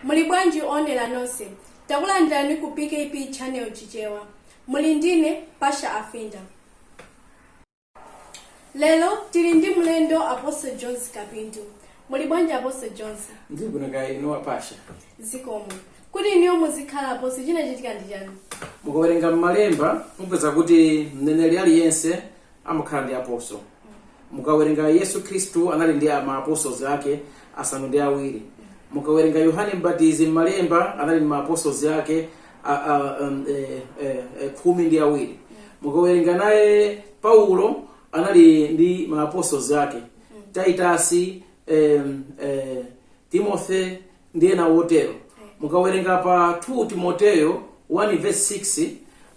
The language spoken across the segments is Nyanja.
muli bwanji owonera nonse takulandirani ku pkp channel chichewa muli ndine pasha afinda lero tili ndi mlendo apostle jones kapindu muli bwanji apostle jones ndili bwino kaya inu a pasha zikomo kuti inuyo muzikhala apostle chinachitika ndi chani mukawerenga m'malemba mupeza kuti mneneri aliyense amakhala ndi apostle mukawerenga yesu khristu anali ndi ma apostles ake asanu ndi awiri mukawerenga yohane mbatizi mmalemba anali ndi ma apostles ake a, a, um, eh, eh, eh, khumi ndi awiri mukawerenga naye paulo anali ndi ma apostles ake titus em, eh, timothy ndi ena otero mukawerenga pa 2 timoteyo 1 verse 6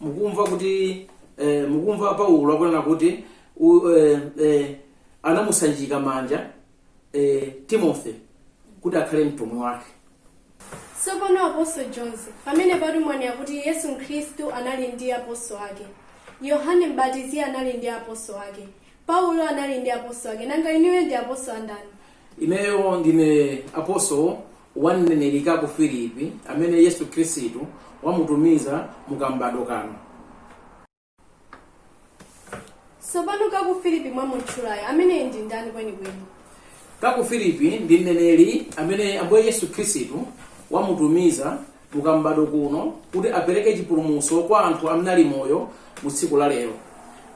mukumva kuti eh, mukumva paulo akunena kuti u, eh, eh, anamusanjika manja eh, timothy kuti akhale mtumwi wake tsopano apostle jones pamene patu mwanena kuti yesu khristu anali ndi apostle ake yohane mbatizi anali ndi apostle ake paulo anali ndi apostle ake nanga inuyo ndi apostle a ndani Ineyo ndine apostle wa mneneri Kacou Philippe, amene Yesu Khristu wamutumiza mu kam'badwo kano. Tsopano Kacou Philippe mwamutchulayo ameneyi ndi ndani kwenikweni? Kacou Philippe ndi mneneri amene Ambuye Yesu Khristu wamutumiza mu kam'badwo kuno kuti apereke chipulumutso kwa anthu amene ali moyo mu tsiku la lero.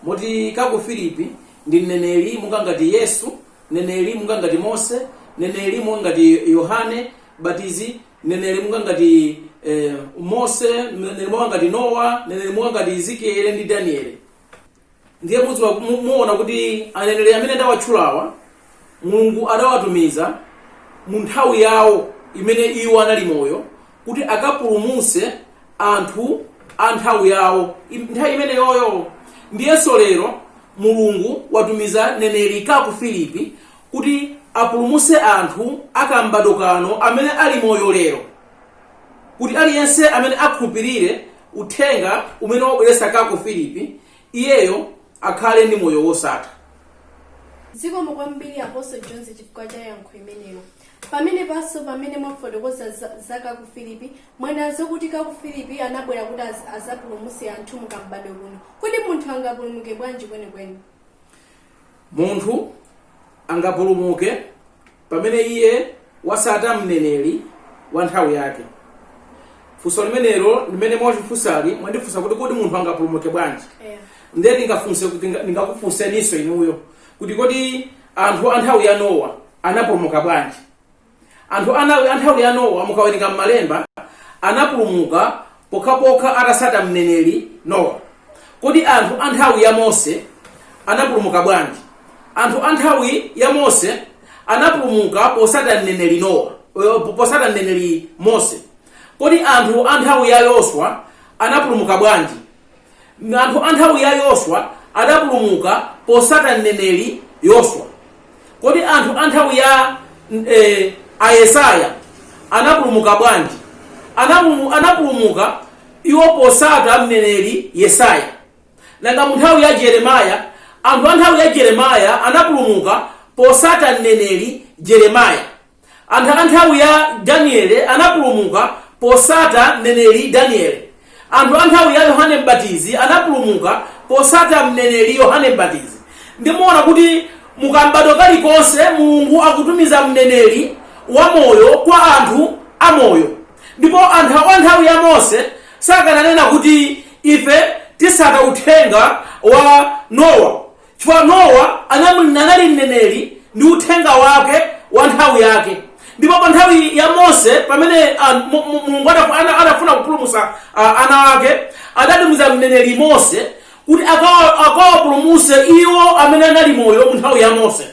Moti Kacou Philippe ndi mneneri monga ngati Yesu mneneri monga ngati mose mneneri monga ngati yohane mbatizi mneneri monga ngati eh, mose mneneri monga ngati nowa mneneri monga ngati ezekiele ndi danieli ndiye mudziwa mu- muona kuti aneneri amene ndawatchulawa mulungu adawatumiza mu nthawi yawo imene iwo anali moyo kuti akapulumutse anthu a nthawi yawo im- nthawi imeneyoyo ndiyenso lero mulungu watumiza mneneri kacou philippe kuti apulumutse anthu a kam'badwo kano amene ali moyo lero kuti aliyense amene akhulupirire uthenga umene wabweretsa kacou philippe iyeyo akhale ndi moyo wosatha zikomo kwambiri apostle jones chifukwa cha yankho imeneyo pamene panso pamene mwafotokoza za- za kacou philippe mwanenanso kuti kacou philippe anabwera kuti az- azapulumutse anthu mu kam'badwo kuno kodi munthu angapulumuke bwanji kwenikweni munthu angapulumuke pamene iye wasata mneneri wa nthawi yake funso limenelo limene mwandifunsali mwandifunsa kuti kodi munthu angapulumuke bwanji Yeah. ndiye ndingafunse kuti nga- ndingakufunseninso inuyo kuti kodi anthu a nthawi ya nowa anapulumuka bwanji anthu a nthawi- a nthawi ya nowa mukawerenga m'malemba anapulumuka pokhapokha atatsata mneneri Nowa. Kodi anthu a nthawi ya Mose anapulumuka bwanji? Anthu a nthawi ya Mose anapulumuka potsata mneneri Nowa, eh, potsata mneneri Mose. Kodi anthu a nthawi ya Yoswa anapulumuka bwanji? Anthu a nthawi ya Yoswa adapulumuka potsata mneneri Yoswa. Kodi anthu a nthawi ya eh, a Yesaya anapulumuka bwanji? Anapulu- Anapulumuka iwo potsata mneneri Yesaya. Nanga mu nthawi ya Jeremaya, anthu a nthawi ya Jeremaya anapulumuka potsata mneneri Jeremaya. Anthu a nthawi ya Daniele anapulumuka posata mneneri Daniele. Anthu a nthawi ya Yohane Mbatizi anapulumuka posata mneneri Yohane Mbatizi. Nde muona kuti mu kam'badwo kalikonse Mulungu akutumiza mneneri wa moyo kwa anthu a moyo. Ndipo anthu a nthawi ya Mose sakananena kuti ife tisata uthenga wa Nowa. Chifukwa Nowa anali anali mneneri ndi uthenga wake wa nthawi yake. Ndipo pa nthawi ya Mose pamene ah, Mu- Mu- Mulungu adafu- ana- adafuna kupulumutsa ah, ana ake, adatumiza mneneri Mose kuti akawa- akawapulumutse iwo amene anali moyo mu nthawi ya Mose.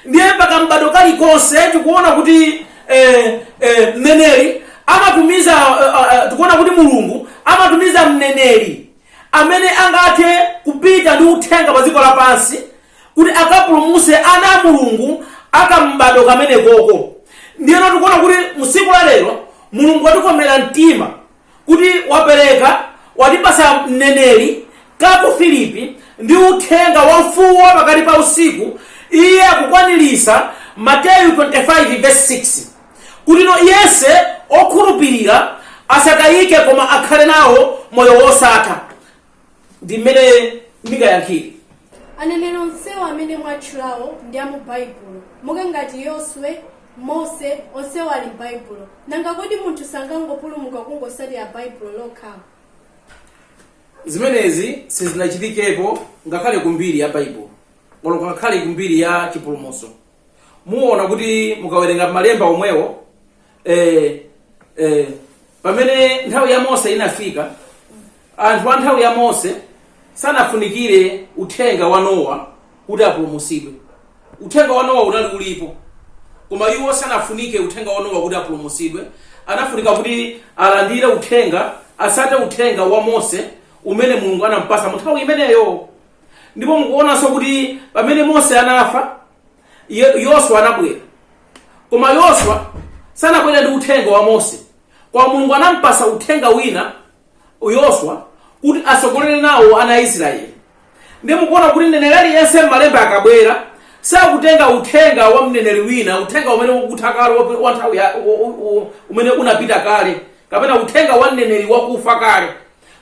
Ndiye pa kam'bado kalikonse tikuona kuti eh, eh, mneneri amatumiza eh, eh, tikuona kuti Mulungu amatumiza mneneri amene angathe kupita ndi uthenga pa dziko lapansi kuti akapulumuse ana a mulungu akam'bado kamenekoko ndiyeno tikuona kuti msiku la lero mulungu watikomera mtima kuti wapereka watipasa mneneri Kacou Filipi ndi uthenga wa mfuwu wa pakati pa usiku iye akukwanirisa mateyu 25 verse 6 kuti yense okhulupirira asatayike koma akhale nawo moyo wosatha ndi mmene ndingayankhire aneneri onsewo amene mwatchulawo ndi a mu baibulo monga ngati yoswe mose onsewo ali m'baibulo nanga kodi munthu sangangopulumuka kungosatira baibulo lokha zimenezi sizinachitikepo ngakhale kumbiri ya baibulo olo ngakhale kumbiri ya chipulumutso muona kuti mukawerenga malemba omwewo eh, eh, pamene nthawi ya mose inafika anthu a nthawi ya mose sanafunikire uthenga wa nowa kuti apulumutsidwe uthenga wa nowa unali ulipo koma iwo sanafunike uthenga wa nowa kuti apulumutsidwe anafunika kuti alandire uthenga atsate uthenga wa mose umene mulungu anampatsa mu nthawi imeneyo ndipo mukuonanso kuti pamene mose anafa Ye- yoswa anabwera koma yoswa sanabwera ndi uthenga wa mose koma mulungu anampatsa uthenga wina yoswa kuti atsogolere nawo ana a israeli ndi mukuona kuti mneneri aliyense m'malemba akabwera sakutenga uthenga wa mneneri wina uthenga umene wakutha kale wa- wa nthawi ya- u- u- u- umene unapita kale kapena uthenga wa mneneri wakufa kale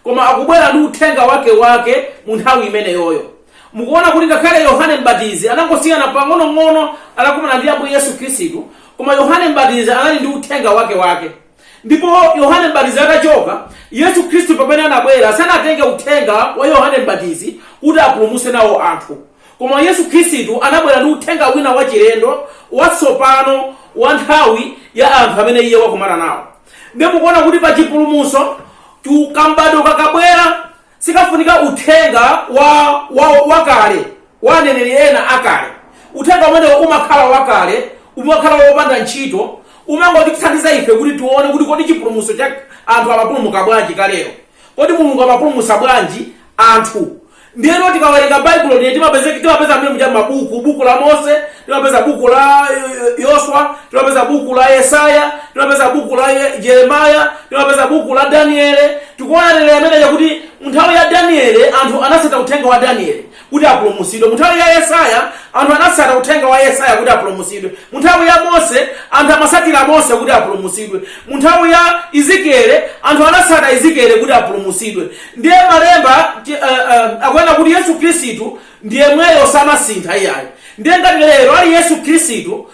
koma akubwera ndi uthenga wake wake mu nthawi imeneyoyo mukuona kuti ngakhale yohane mbatizi anangosiyana pang'onong'ono anakumana ndi ambuye yesu khristu koma yohane mbatizi anali ndi uthenga wake wake ndipo yohane mbatizi atachoka yesu khristu pamene anabwera sanatenge uthenga wa yohane mbatizi kuti apulumutse nawo anthu koma yesu khristu anabwera ndi uthenga wina wachilendo watsopano wa nthawi ya anthu amene iye wakumana nawo ndiye mukuona kuti pa chipulumutso ti- kam'badwo kakabwera sikafunika uthenga wa, wa, wakale wa aneneri ena akale uthenga umenewo umakhala wakale umakhala wopanda ntchito umangotithandiza ife kuti tione kuti kodi chipulumutso cha anthu amapulumuka bwanji kalero Kodi Mulungu amapulumutsa bwanji anthu? Ndiyeno tikawerenga Baibulo ndiye ti- timapeza mmene muja mabuku, buku la Mose, timapeza buku la eh, Yoswa, timapeza buku la Yesaya, timapeza buku la Ye- Jeremaya, timapeza buku la Daniele. Tikuona momwe muja kuti mu nthawi ya Daniele anthu anatsata uthenga wa Daniele. kuti apulumutsidwe. Mu nthawi ya Yesaya, anthu anatsata uthenga wa Yesaya kuti apulumutsidwe. Mu nthawi ya Mose, anthu amatsatira Mose kuti apulumutsidwe. Mu nthawi ya Ezekieli, anthu anatsata Ezekieli kuti apulumutsidwe. Ndiye malemba ti- eh, eh, akunena kuti Yesu Khristu ndi yemweyo samasintha iyayi. Ndiye ngati lero ali Yesu Khristu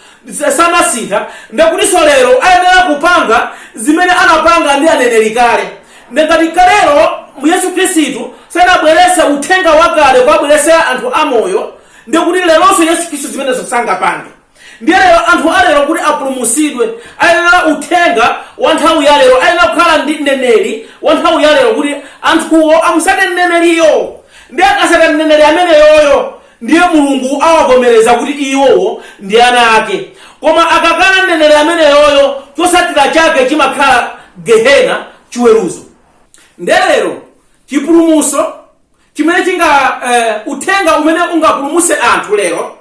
samasintha, ndiye kutinso lero ayenera kupanga zimene anapanga ndi aneneri kale. Ndiye ngati kalero Yesu Khristu sanabweretse uthenga wakale kuwabweretsera anthu amoyo, ndiye kuti leronso Yesu Khristu zimenezo sangapange. Ndiye lero anthu a lero kuti apulumutsidwe, ayenera uthenga wa nthawi ya lero, ayenera kukhala ndi mneneri wa nthawi ya lero kuti anthuwo amutsate mneneriyo. Ndiye akatsata mneneri ameneyoyo, Ndiye Mulungu awavomereza kuti iwowo ndi ana ake. Koma akakana mneneri ameneyoyo, chotsatira chake chimakhala Gehena, chiweruzo. Ndiye lero chipulumutso chimene chinga, eh, uthenga umene ungapulumutse anthu lero,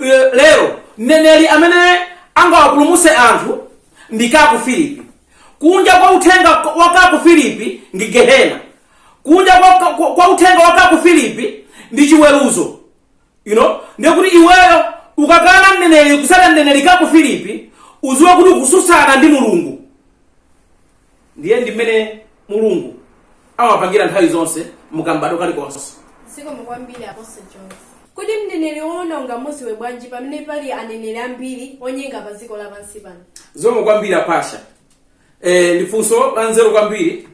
eh, lero mneneri amene angawapulumutse anthu ndi Kaku Filipi. Kunja kwa uthenga wa Kaku Filipi ndi Gehena, kunja kwa, kwa, kwa, kwa uthenga wa kaku filipi ndi chiweruzo you know ndiye kuti iweyo ukakana mneneri kusata mneneri kaku filipi uziwe kuti ukususana ndi mulungu ndiye ndi mmene mulungu amapangira nthawi zonse mukam'bado kalikonse zikomo kwambiri apostle jones kodi mneneri woona ungamuziwe bwanji pamene pali aneneri ambiri onyenga pa dziko lapansi pano zikomo kwambiri apasha eh, ndi funso la nzeru kwambiri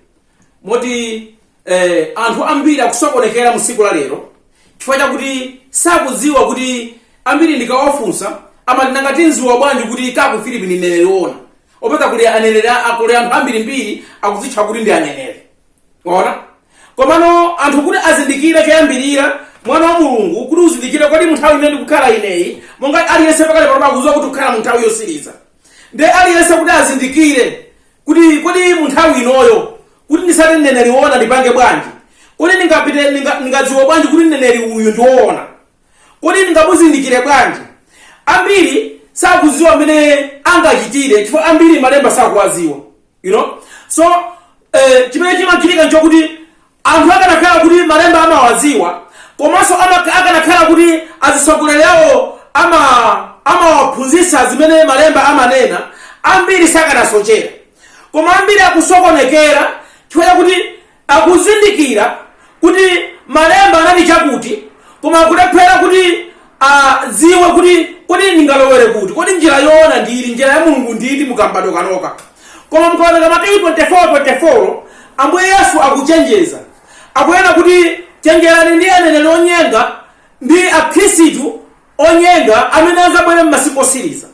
moti eh, anthu ambiri akusokonekera musiku la lero chifukwa chakuti sakudziwa kuti ambiri ndikawafunsa amati nanga tinziwa bwanji kuti kaku filipi ndi mneneri woona upeza kuli aneneri a- akuli anthu ambirimbiri akuzitcha kuti ndi aneneri woona komano anthu kuti azindikire choyambirira mwana wa mulungu kuti uzindikire kodi munthawi imene ndikukhala ineyi monga aliyense pakale panopa akuziwa kuti tikukhala munthawi yosiriza nde aliyense kuti azindikire kuti kodi mu nthawi inoyo kuti ndisate mneneri woona ndipange bwanji kodi ndingapite ndinga- ndingadziwe bwanji kuti mneneri uyu ndi woona kodi ndingamuzindikire bwanji ambiri sakuziwa mmene angachitire chifukwa ambiri malemba sakuwaziwa you know so eh, chimene chimachitika nchokuti Anthu akanakhala kuti malemba amawadziwa komanso akanakhala kuti azitsogoleri awo ama amawaphunzitsa zimene malemba amanena ambiri sakanasochera koma ambiri akusokonekera chifukwa chakuti akuzindikira kuti malemba ananena chakuti koma akulephera kuti Adziwe kuti, Kodi ndingalowere kuti? Kodi njira yoona ndi iti? Njira ya Mulungu ndi iti mu kam'badwo kanoka? Koma mukawerenga Mateyu 24, 24, Ambuye Yesu akuchenjeza. Akunena kuti, Chenjerani ndi aneneri onyenga ndi akhristu onyenga amene adzabwere m'masiku otsiriza.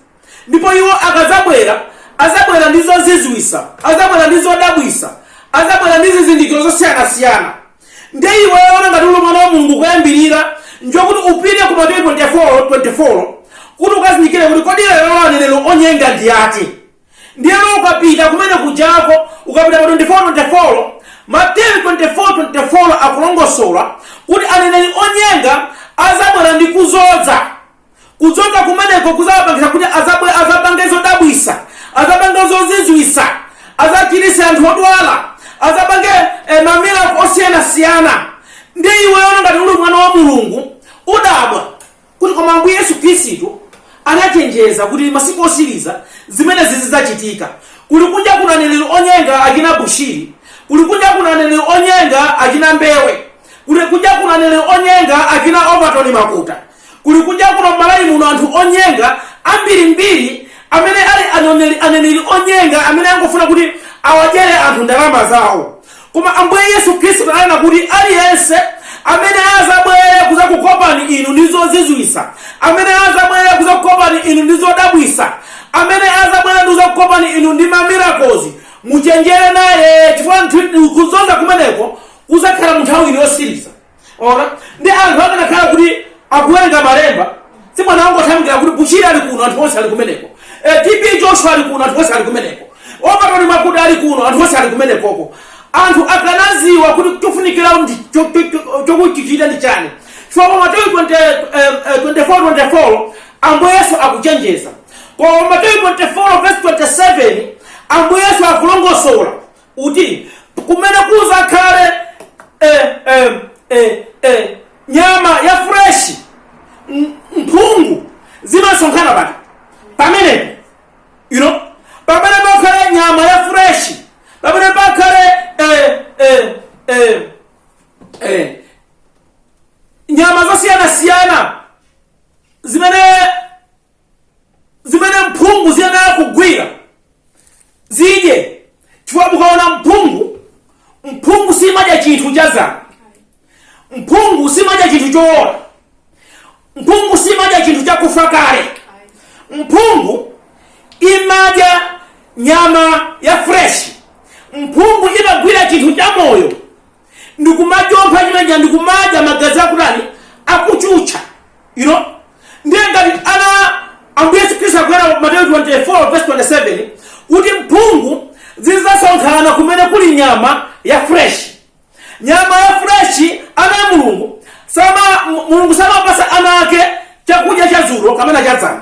ndipo iwo akazabwera azabwera ndi zozizwisa azabwera ndi zodabwisa azabwera ndi zizindikiro zosiyanasiyana nde iweyo ngati uli mwana wa mulungu choyambirira nchokuti upite ku mateyu 24 24 kuti ukazindikire kuti kodi lero lo aneneri onyenga ndi ati ndiyeno ukapita kumene kujako ukapita pa 24 24 mateyu 24 24 akulongosola kuti aneneri onyenga azabwera ndi kuzodza Kuzoza kumeneko kuzawapangisa kuti azabwe azapange zodabwisa, azapange zozizwisa, azachirise anthu odwala, azapange eh, ma miracle osiyana siyana. Ndi iweyo ngati uli mwana wa Mulungu udabwa kuti koma Ambuye Yesu Khristu anachenjeza kuti masiku osiriza zimene zizidzachitika. Kuli kunja kuna aneneri onyenga achina Bushiri, kuli kunja kuna aneneri onyenga achina Mbewe, kuli kunja kuna aneneri onyenga achina Overton Makuta. kuli kunja kuno m'malawi muno anthu onyenga ambirimbiri amene ali aneneli- aneneri onyenga amene angofuna kuti awadyere anthu ndalama zawo koma ambuye yesu khristu ananena kuti aliyense amene azabwere kuzakukopani inu ndi zozizwisa amene azabwere kuzakukopani inu ndi zodabwisa amene azabwere ndi kuzakukopani inu ndi ma miracles muchenjere naye chifukwa nthu- kuzoza kumeneko kuzakhala munthawi ino yosiriza onani anthu akanakhala kuti akuwerenga malemba sibwenzi akungothamangira kuti bushiri ali kuno anthu onse ali kumeneko Eh, tb joshua ali kuno anthu onse ali kumeneko overton makuta ali kuno anthu onse ali kumenekoko anthu akanaziwa kuti chofunikira ndi cho- cho- cho- chokuchichita ndi chani chifukwa mateyu 20, eh, eh, 24 24 ambuye yesu akuchenjeza koma mateyu 24 verse 27 ambuye yesu akulongosola uti kumene kuzakhale eh, eh, eh, eh, nyama ya freshi m- mphungu zimasonkhana pati pamenepo you know pamene pakhale nyama ya fresh pamene pakhale eh, eh, eh, eh, nyama zosiyanasiyana zimene zimene mphungu ziyenera kugwira zidye chifukwa mukaona mphungu mphungu simadya chinthu cha dzana mphungu simadya chinthu chowola mphungu simadya chinthu chakufa kale mphungu imadya nyama ya fresh mphungu imagwira chinthu cha moyo ndikumajompha chimene chija ndikumadya magazi akutani akuchucha you know ndiye ngati ana ambuye yesu khristu akunena mateyu 24 verse 27 kuti mphungu zidzasonkhana kumene kuli nyama ya fresh nyama ya fresh ana a mulungu sama mu- mulungu samapasa ana ake chakudya cha dzulo kapena cha dzana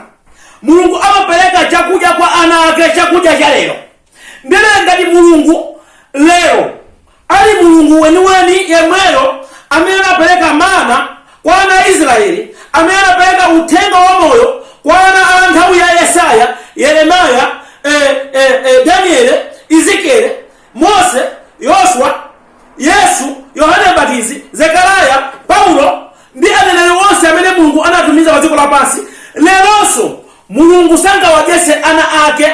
mulungu amapereka chakudya kwa ana ake chakudya cha lero Ndiye ngati Mulungu, lero, ali Mulungu weniweni yemweyo amene anapereka mana kwa ana a Israeli, amene anapereka Uthenga wa Moyo kwa ana a nthawi ya Yesaya, Yeremiah, eh, eh, eh, Daniele, Ezekiele, Mose, Yoswa, Yesu, Yohane Mbatizi, Zekariah, Paulo, ndi aneneri onse amene Mulungu anatumiza pa dziko lapansi, leronso Mulungu sangawadyetse ana ake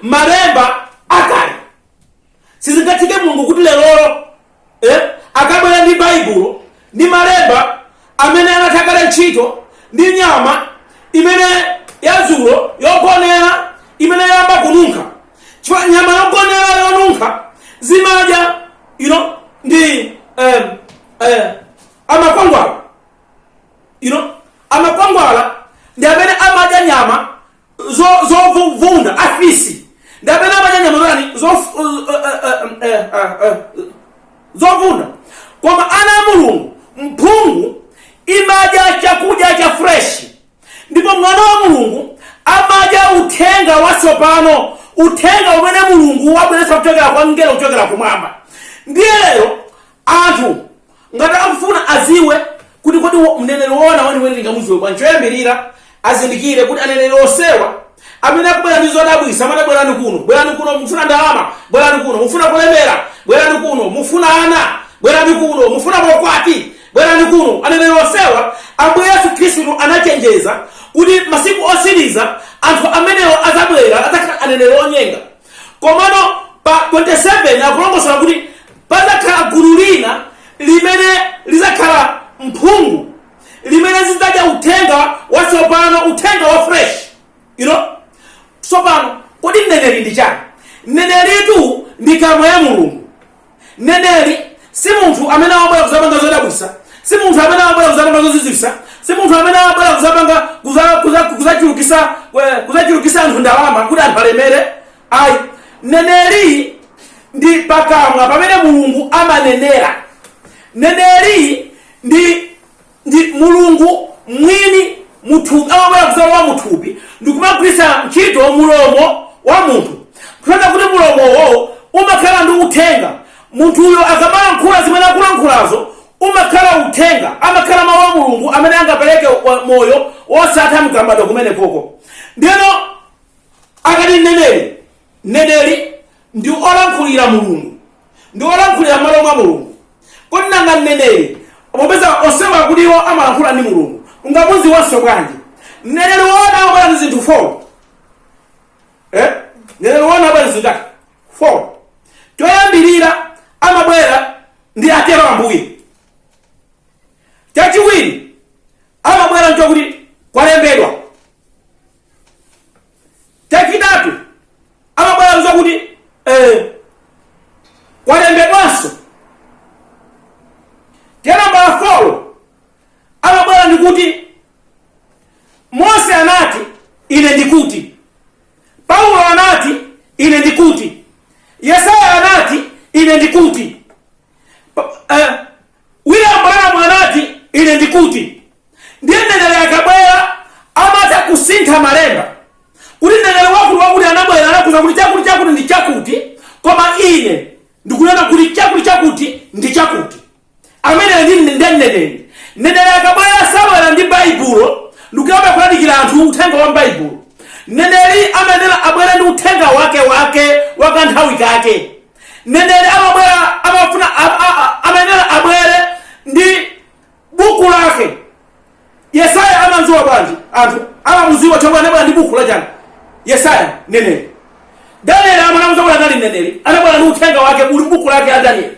malemba akale. Sizingatheke Mulungu kuti lerolo eh, akabwera ndi Baibulo ndi malemba amene anatha kale ntchito ndi nyama imene yadzulo yogonera imene yayamba kununkha chifukwa nyama yogonera yonunkha zimadya you know, ndi eh, eh, amakwangwala you know amakwangwala ndi amene amadya nyama zo- zovunda afisi ndi amene amadya nyama zonani zof- uh, uh, uh, um, eh, uh, uh, zovunda koma ana a mulungu mphungu imadya chakudya cha fresh ndipo mwana wa mulungu amadya uthenga watsopano uthenga umene mulungu wabweretsa kuchokera kwa mngelo kuchokera kumwamba ndiye lero anthu ngati akufuna aziwe kuti kodi wo- mneneri woona weniweni tingamuziwe bwanji choyambirira azindikire kuti aneneri onsewa amene akubwera ndi zodabwisa amene bwerani kuno bwerani kuno mufuna ndalama bwerani kuno mufuna kulemera bwerani kuno mufuna ana bwerani kuno mufuna kukwatiwa bwerani kuno aneneri onsewa ambuye yesu khristu anachenjeza kuti masiku osiriza anthu amenewo azabwera adzakhala aneneri onyenga komano pa 27 akulongosola kuti Padzakhala gulu lina limene lidzakhala mphungu, limene zidzadya Uthenga watsopano, Uthenga wa fresh, you know. Tsopano, kodi mneneri ndi chani? Mneneritu ndi kamwa ya Mulungu. Mneneri si munthu amene amabwera kuzapanga zodabwisa, si munthu amene amabwera kuzapanga zozizwisa, si munthu amene amabwera kuzapanga kuzachulukisa kuzachulukisa anthu ndalama kuti anthu alemere. ayi mneneri ndi pakamwa pamene mulungu amanenera mneneri ndi ndi mulungu mwini muthupi amabwera kuzalowa muthupi ndikumagwiritsa ntchito mulomo wa munthu kutanthauza kuti mulomowo umakhala ndi uthenga munthuyo akamalankhula zimene akulankhulazo umakhala uthenga amakhala mawu a mulungu amene angapereke wa- moyo wosatha mu m'badwo umenewo ndiyeno akati mneneri mneneri ndi olankhulira mulungu ndi olankhulira malo mwa mulungu kodi nanga mneneri popeza onsewa kuti iwo amalankhula ndi mulungu tingamudziwenso bwanji mneneri woona amabwera ndi zinthu four eh? mneneri woona amabwera ndi zinthu zake four choyambirira amabwera ndi atero ambuye chachiwiri amabwera nchokuti kwalembedwa chachitatu amabwera zakuti eh, kwalembedwanso then nambala folo amabwera ndikuti mose anati ine ndikuti paulo anati ine ndikuti yesaya anati ine ndikuti Pa- eh, William Branham anati, Ine ndikuti, ndiye mneneri akabwera, amatha kusintha malemba, kuti mneneri wakuti wakuti anabwera anakuuzani kuti chakuti chakuti ndi chakuti, koma ine ndikunena kuti chakuti chakuti ndi chakuti. Ameneyo ndi ndi mneneri. Mneneri akabwera sabwera ndi Baibulo, ndikuyamba kulalikira anthu uthenga wa Baibulo. Mneneri amayenera abwere ndi uthenga wake wake wa kanthawi kake. mneneri amabwera amafuna amayenera abwere ndi buku lake yesaya amamuziwa bwanji anthu amamuziwa chomwe anabwera ndi buku la chani yesaya mneneri danieli amamuziwa kuti anali mneneri anabwera ndi uthenga wake uli buku lake la danieli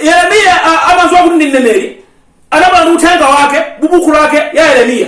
yeremiya amamuziwa kuti ndi mneneri anabwera ndi uthenga wake m'buku lake la yeremiya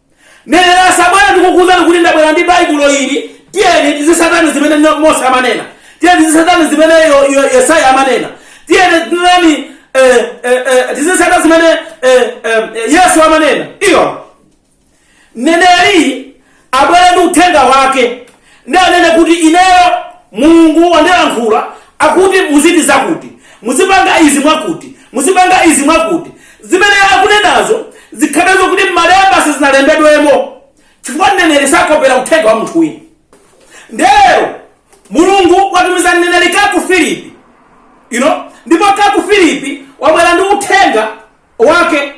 Mneneri asabwere ndikukuuzani kuti ndabwera ndi Baibulo ili, tiyeni tizisata zimene no- Mose amanena, tiyeni tizisata zimene Yo- Yo- Yesaya amanena, tiyeni tinani eh, eh, eh, tizisata zimene eh, eh, Yesu amanena. Ayi mneneri abwere ndi uthenga wake ndi anene kuti ineyo Mulungu wandilankhula akuti muzichita zakuti, muzipanga izi mwakuti, muzipanga izi mwakuti. Zimene akunenazo zikhale zokuti m'Malemba sizinalembedwemo chifukwa mneneri sakopera uthenga wa munthu wina. Nde lero Mulungu watumiza mneneri Kacou Philippe you know? ndipo Kacou Philippe wabwera ndi uthenga wake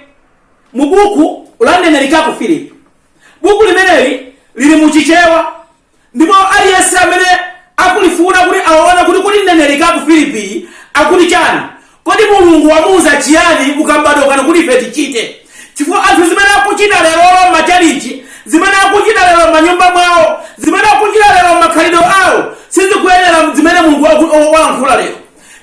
mu buku la mneneri Kacou Philippe. buku limeneli lili mu chichewa ndipo aliyense amene akulifuna kuti aone kuti kodi mneneri kacou philippe akuti chani kodi mulungu wamuuza chiyani ku kam'badwo kano kuti ife tichite chifukwa anthu zimene akuchita lerolo m'machalichi zimene akuchita lero m'manyumba mwawo zimene akuchita lero m'makhalidwe awo sizikuyenera zimene mulungu waku- walankhula lero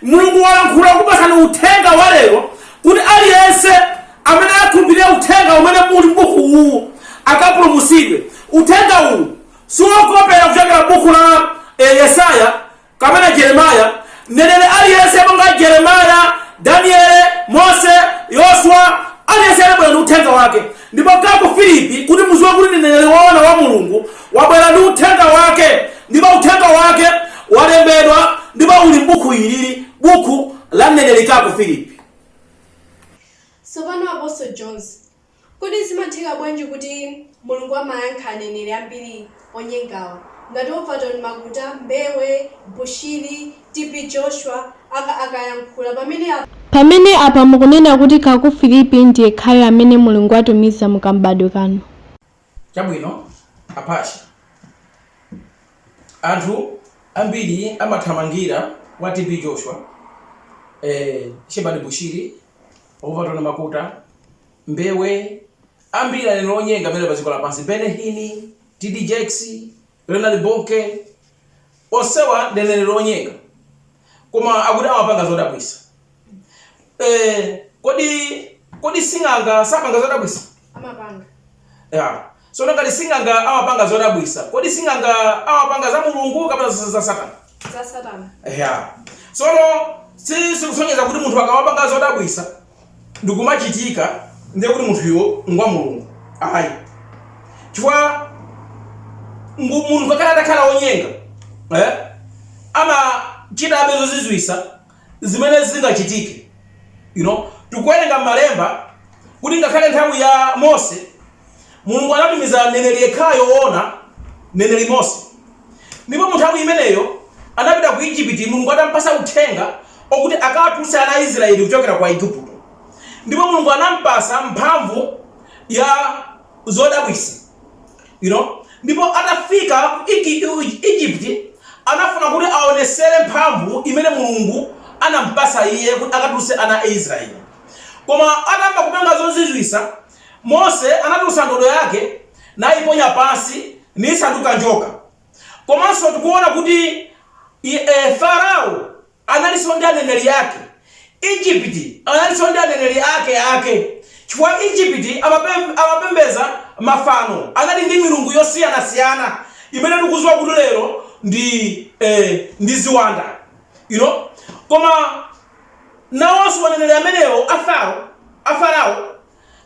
mulungu walankhula kupatsa uthenga wa lero kuti aliyense amene akhulupirire uthenga umene muli m'buku uwu akapulumutsidwe uthenga uwu siwokopera kuchokera m'buku la eh, yesaya kapena jeremaya mneneri aliyense monga jeremaya daniele mose yoswa aliyense anabwera ndi uthenga wake Ndipo Kaku Filipi, kuti muziwe kuti ndi mneneri woona wa Mulungu, wabwera ndi Uthenga Wake, ndipo Uthenga Wake walembedwa ndipo uli m'Bukhu ili, liri Bukhu la mneneri Kaku Filipi. Tsopano, Apostle Jones, kodi zimatheka bwanji kuti Mulungu amayankha aneneri ambiri? onyengawa ngati Overtone Makuta, Mbewe, Bushiri, TB Joshua akayankhula pamene apa. Pamene apa mukunena kuti Kaku Filipi ndiyekhayo amene Mulungu watumiza mu kam'badwe kano? Chabwino apache, anthu ambiri amathamangira kwa TB Joshua, eh Shepherd Bushiri, Overtone Makuta, Mbewe, Ambiri aneneri onyenga amene ali pa dziko lapansi, Benny Hinn, T.D. Jakes, Leonard Bonnke, onsewa ndi aneneri onyenga koma akuti amapanga zodabwisa. Eh, kodi, kodi sing'anga sapanga zodabwisa? Amapanga. Ya, tsono ngati sing'anga amapanga zodabwisa, kodi sing'anga amapanga za Mulungu kapena za za Satana? Za Satana. Ya, tsono si sikusonyeza kuti munthu akamapanga zodabwisa ndikumachitika ndiye kuti munthuyo ngwa Mulungu ayi chifukwa ngu- munthu ngakhale atakhala wonyenga eh, amachitabe zozizwisa zimene zingachitike you know tikuwerenga m'malemba kuti ngakhale nthawi ya mose mulungu anatumiza mneneri yekhayo woona mneneri mose Ndipo munthawi imeneyo anapita ku Ijipiti, Mulungu atampasa uthenga okuti akawatuluse ana a Israyeli kuchokera ku Aigupto. Ndipo Mulungu anampasa mphamvu ya zodabwisa. You know? Ndipo atafika ku Ijipiti, anafuna kuti aonesere mphamvu imene Mulungu anampasa iye kuti akatuluse ana a Israyeli. Koma atamba kupanga zozizwisa, Mose anatulutsa ndodo yake nayiponya pansi nisanduka njoka. Komanso tikuona kuti Farao analinso ndi aneneri ake. Egypt analinso ndi aneneri ake ake chifukwa Egypt amapembedza mafano, anali ndi milungu yosiyanasiyana imene tikudziwa kuti lero ndi ndi ziwanda you know koma. Nawonso aneneri amenewo a Faro, a Farao,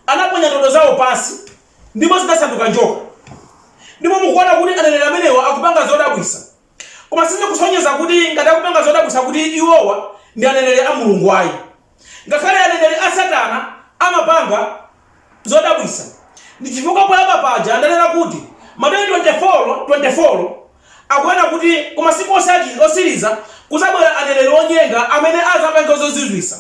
anaponya ndodo zawo pansi ndipo zinasanduka njoka. Ndipo mukuona kuti aneneri amenewa akupanga zodabwisa. Koma sizikusonyeza kuti ngati akupanga zodabwisa kuti iwowa ndi aneneri a Mulungu ayi. Ngakhale aneneri a Satana amapanga Zodabwisa ndi chifukwa poyamba paja ndanena kuti Mateyu 24, 24 akunena kuti ku masiku osiriza, osiriza kuzabwera aneneri onyenga amene azapanga zozizwisa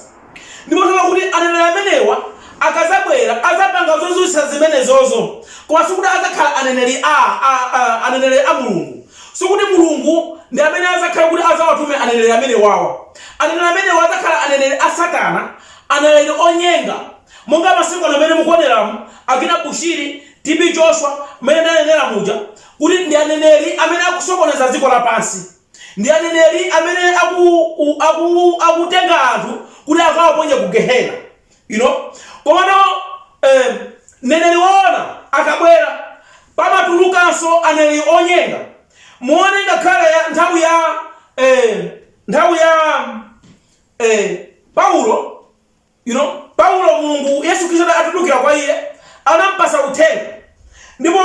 ndipo tikuona kuti aneneri amenewa akazabwera azapanga zozizwisa zimenezozo koma sikuti azakhala aneneri a a a aneneri a Mulungu sikuti Mulungu ndi amene azakhala kuti azawatume aneneri amenewawa aneneri amenewa azakhala aneneri a satana aneneri onyenga Monga masiku ano amene mukuoneramu, akina Bushiri, TB Joshua, mmene ndanenera muja kuti ndi aneneri amene akusokoneza dziko lapansi, ndi aneneri amene aku u aku u akutenga anthu kuti akawaponye ku Gehena you know komano eh, mneneri woona akabwera pamatulukanso aneneri onyenga. Muone ngakhale ya, nthawi ya eh, nthawi ya eh, Paulo. You know, Paulo, Mulungu, Yesu Kristu atatulukira kwa iye, anampasa uthenga. Ndipo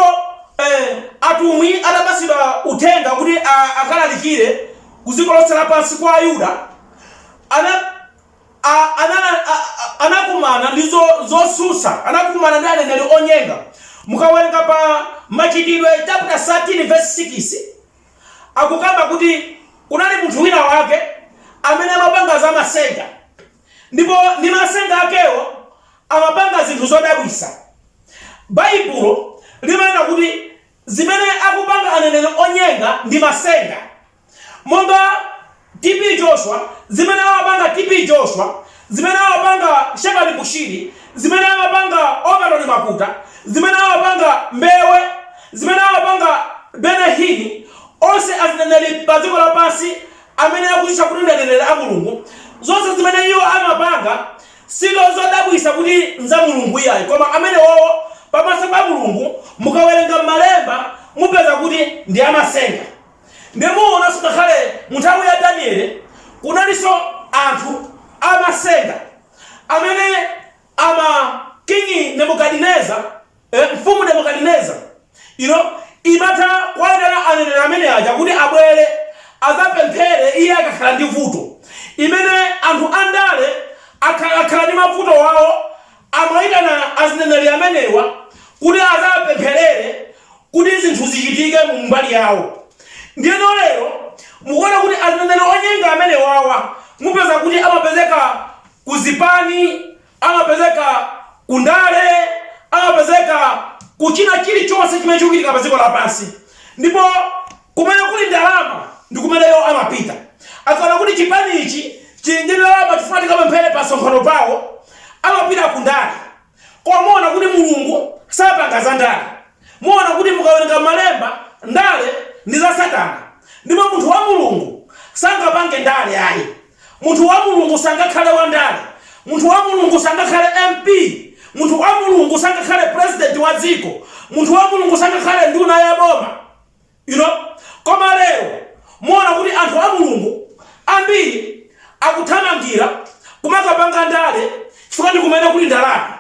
eh, atumwi atapasidwa uthenga kuti a- akalalikire kuziko lonse lapansi kwa Ayuda, ana a- ana- a- a- anakumana ndi zo- zosusa anakumana ndi aneneri onyenga mukawerenga pa machitidwe chapter 13 verse 6 akukamba kuti kunali munthu wina wake amene amapanga za masenga Ndipo ndi masenga akewo amapanga zinthu zodabwisa. Baibulo limanena kuti zimene akupanga aneneri onyenga ndi masenga. Monga TB Joshua, zimene amapanga TB Joshua, zimene amapanga Shepherd Bushiri, zimene amapanga Overtone Makuta, zimene amapanga Mbewe, zimene amapanga Benny Hinn, onse azineneri pa dziko lapansi amene akudzitcha kuti ndi aneneri a Mulungu, zonse zimene iwo amapanga sizo zodabwisa kuti nza Mulungu iyayi, koma amenewowo pamaso pa Mulungu mukawerenga m'malemba mupeza kuti ndi amasenga. Ndiye muonanso ngakhale mu nthawi ya Daniele kunalinso anthu amasenga amene. Ama King Nebukadineza, eh, Mfumu Nebukadineza, you know, imatha kuwaitana aneneri amene aja kuti abwere azapemphere iye akakhala ndi vuto. Mmene anthu andale akha- akhala ndi mavuto wawo amaitana azineneri amenewa kuti azapempherere kuti zinthu zichitike mu mbali yawo. ndiyeno lero mukuona kuti azineneri onyenga amenewawa mupeza kuti amapezeka ku zipani, amapezeka ku ndale, amapezeka ku china chilichonse chimene chikuchitika pa dziko lapansi, ndipo kumene kuli ndalama ndi kumene iwo amapita. Akaona kuti chipani ichi chili ndi ndalama, tifuna tikapemphere pa msonkhano pawo, amapita ku ndale. Koma muona kuti Mulungu sapanga za ndale. Muona kuti mukawerenga m'Malemba, ndale ndi za Satana, ndipo munthu wa Mulungu sangapange ndale ayi. Munthu wa Mulungu sangakhale wandale. Munthu wa Mulungu sangakhale MP. Munthu wa Mulungu sangakhale president wa dziko. Munthu wa Mulungu sangakhale nduna ya boma. You know? Koma lero, muona kuti anthu a Mulungu ambiri akuthamangira kumakapanga ndale chifukwa ndi kumene kuli ndalama.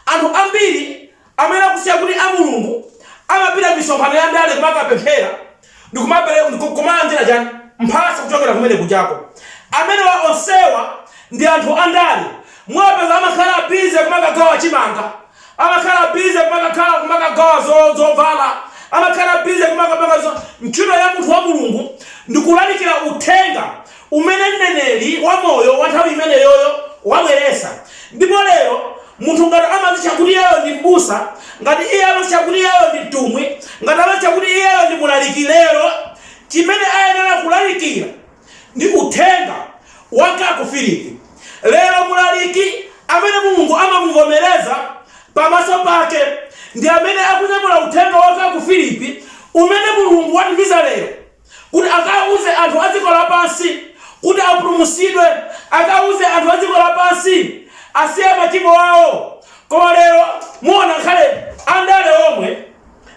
Anthu ambiri amene akudzitcha kuti a Mulungu amapita m'misonkhano ya ndale kumakapemphera ndi kumapereka, ndi ku, kumalandira chiyani? mphatso kuchokera kumene kujako. Amenewa, onsewa ndi anthu a ndale. Muwapeza amakhala busy kumakagawa chimanga, amakhala busy kumakakhala, kumakagawa zo, zovala, amakhala busy kumakapanga zo. Ntchito ya munthu wa Mulungu ndi kulalikira uthenga umene mneneri wamoyo wa nthawi imeneyoyo wabweretsa. Ndipo, lero, munthu ngati amadzitcha kuti iyeyo ndi m'busa, ngati iye amadzitcha kuti iyeyo ndi mtumwi, ngati amadzitcha kuti iyeyo ndi mlaliki, lero, chimene ayenera kulalikira ndi Uthenga wa Kacou Philippe. Lero, mlaliki amene Mulungu amamuvomereza pamaso Pake, ndi amene akunyamula Uthenga wa Kacou Philippe umene Mulungu watumiza lero. kuti akauze anthu a dziko lapansi kuti apulumutsidwe, akauze anthu a dziko lapansi asiye machimo awo. Koma lero muona ngakhale andale omwe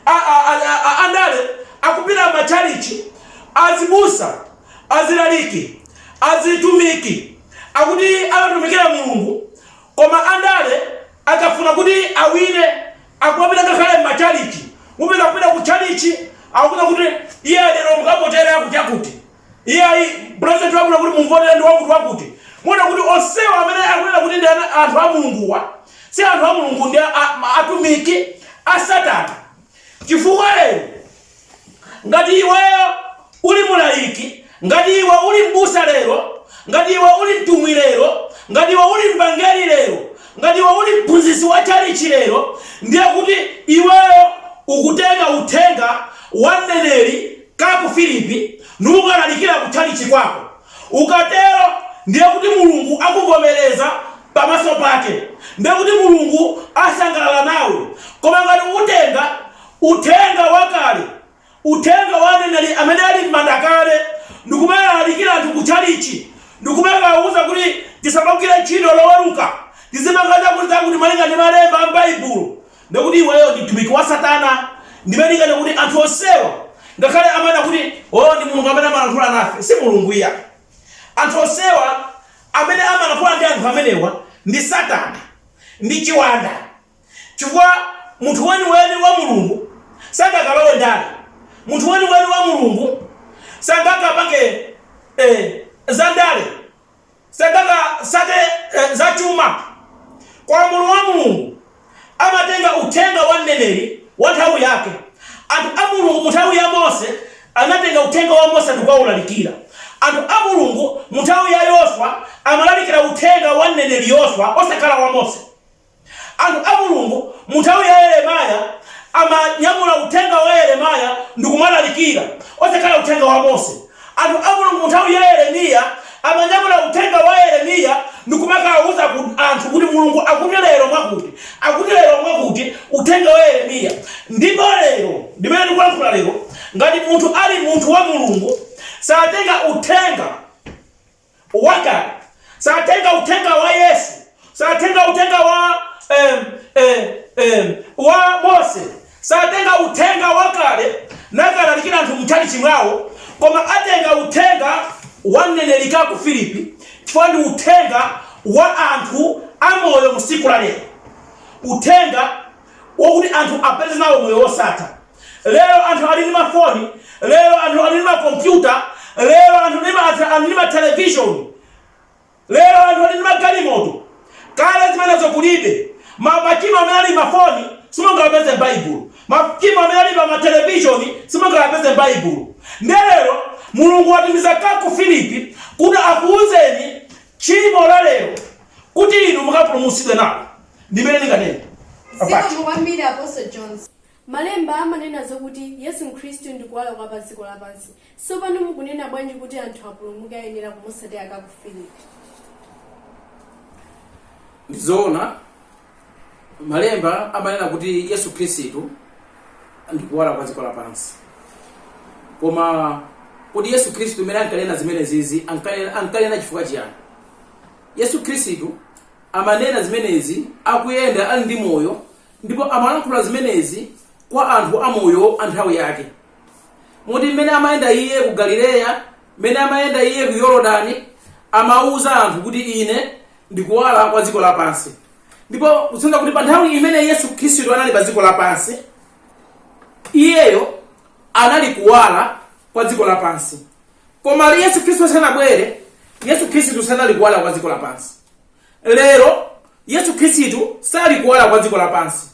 a, a, a, a, a, andale akupita m'matchalichi azibusa azilaliki azitumiki akuti amatumikira mulungu koma andale akafuna kuti awine Akumapita ngakhale m'matchalitchi. Mupeza kupita kutchalitchi, akukuuza kuti, Iyayi, lero mukavotere akuti-akuti. Iyayi, pulezidenti wabwino kuti mumvotere ndi wakuti-wakuti. Muona kuti onsewa amene akunena kuti ndi ana, anthu a Mulunguwa, si anthu a Mulungu, ndi a, a, atumiki a Satana. Chifukwa lero. Ngati iweyo uli mlaliki, ngati iwe uli m'busa lero, ngati iwe uli mtumwi lero, ngati iwe uli mvangeri lero, ngati iwe uli mphunzitsi wa tchalitchi lero, ndiye kuti iweyo ukutenga uthenga wa mneneri Kacou Philippe nukalalikira ku tchalitchi kwako. Ukatero ndiye kuti Mulungu akuvomereza pamaso pake. Ndiye kuti Mulungu asangalala nawe. Koma ngati utenga Uthenga wakale, uthenga wa aneneri amene ali m'manda kale, ndi kumakalalikira anthu ku tchalitchi, ndi kumakawauza kuti tisamagwire ntchito Loweruka, tizipanga zakutizakuti malinga ndi malemba a m'Baibulo, ndiye kuti iweyo ndi mtumiki wa Satana. Ndimene ndikunena kuti anthu onsewa, ngakhale amanena kuti, Oh, ndi Mulungu amene amalankhula nafe, si Mulungu iyayi. Anthu onsewa, amene amalankhula ndi anthu amenewa, ndi Satana, ndi chiwanda. Chifukwa munthu weniweni wa Mulungu sangakalowe ndale. Munthu weniweni wa Mulungu sangakapange zandale, sangakatsate zachuma. Koma munthu wa Mulungu amatenga uthenga wa mneneri wa nthawi yake. Anthu a Mulungu mu nthawi ya Mose anatenga uthenga wa Mose ndikukaulalikira. Anthu a Mulungu mu nthawi ya Yoswa amalalikira uthenga wa mneneri Yoswa osakhala wa Mose. Anthu a Mulungu mu nthawi ya Yeremaya amanyamula uthenga wa Yeremaya ndikumalalikira, osakhala uthenga wa Mose. Anthu a Mulungu mu nthawi ya Yeremiya amanyamula uthenga wa Yeremiya ndikumakawuza anthu kuti Mulungu akuti lero mwakuti, akuti lero mwakuti, uthenga wa Yeremiya. Ndipo lero, limene ndikulankhula lero, ngati munthu ali munthu wa Mulungu, satenga uthenga. wakale satenga uthenga wa Yesu, satenga uthenga wa em, em, em, wa Mose, satenga uthenga wakale nakalalikira anthu mchalichi mwawo, koma atenga uthenga wa mneneri Kacou Philippe chifukwa ndi uthenga wa anthu amoyo msiku la lero, uthenga wokuti anthu apeze nawo moyo wosatha. Lero anthu ali ndi mafoni, lero anthu ali ndi makompyuta, lero anthu ndi ma, ali ndi matelevishoni, lero anthu ali ndi magalimoto. Kale zimenezo kulibe. Ma, machimo amene ali m'mafoni simungawapeze m'Baibulo. Machimo amene ali pa matelevishoni simungawapeze m'Baibulo. Ndiye lero Mulungu watumiza Kacou Philippe kuti akuuzeni tchimo la lero kuti inu mukapulumutsidwe nalo. Ndimene ndinganene. Zikomo kwambiri Apostle Jones. Malemba amanena zokuti Yesu Khristu ndi kuwala kwa pa dziko lapansi. Tsopano mukunena bwanji kuti anthu apulumuke ayenera kumutsatira Kacou Philippe? Ndi zoona, Malemba amanena kuti Yesu Khristu ndi kuwala kwa dziko lapansi. Koma kodi Yesu Khristu m'mene ankanena zimenezizi ankanena ankanena chifukwa chiyani? Yesu Khristu amanena zimenezi akuyenda ali ndi moyo ndipo amalankhula zimenezi kwa anthu amoyo a nthawi yake moti mmene amayenda iye ku galileya mmene amayenda iye ku yorodani amawuza anthu kuti ine ndi kuwala kwa dziko lapansi ndipo kusonyeza kuti pa nthawi imene yesu khristu anali pa dziko lapansi iyeyo anali kuwala kwa dziko lapansi koma yesu khristu sanabwere yesu khristu sanali kuwala kwa dziko lapansi lero yesu khristu sali kuwala kwa dziko lapansi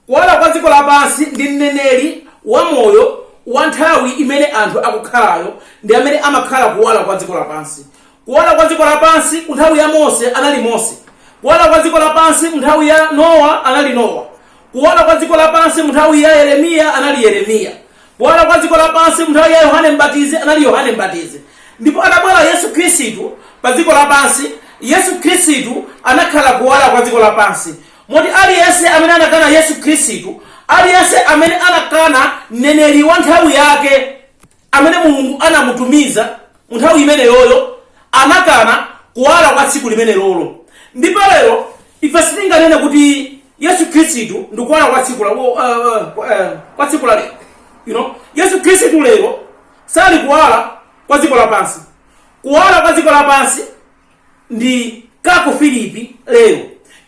kuwala kwa dziko lapansi ndi mneneri wa moyo wa nthawi imene anthu akukhalayo ndi amene amakhala kuwala kwa dziko lapansi kuwala kwa dziko lapansi mu nthawi ya mose anali mose kuwala kwa dziko lapansi mu nthawi ya nowa anali nowa kuwala kwa dziko lapansi mu nthawi ya yeremiya anali yeremiya Kuwala kwa dziko lapansi mu nthawi ya Yohane Mbatizi anali Yohane Mbatizi. Ndipo atabwera Yesu Khristu pa dziko lapansi, Yesu Khristu anakhala kuwala kwa dziko lapansi. Moti aliyense amene anakana Yesu Khristu, aliyense amene anakana mneneri wa nthawi yake amene Mulungu anamutumiza, Mu nthawi imeneyoyo anakana Kuwala kwa tsiku limenelolo. Ndipo, lero, ife sitinganene kuti Yesu Khristu ndi Kuwala kwa tsiku la, uh, uh, kwa tsiku la lero. You know? Yesu Khristu lero sali Kuwala kwa dziko lapansi. Kuwala kwa dziko lapansi ndi kacou philippe lero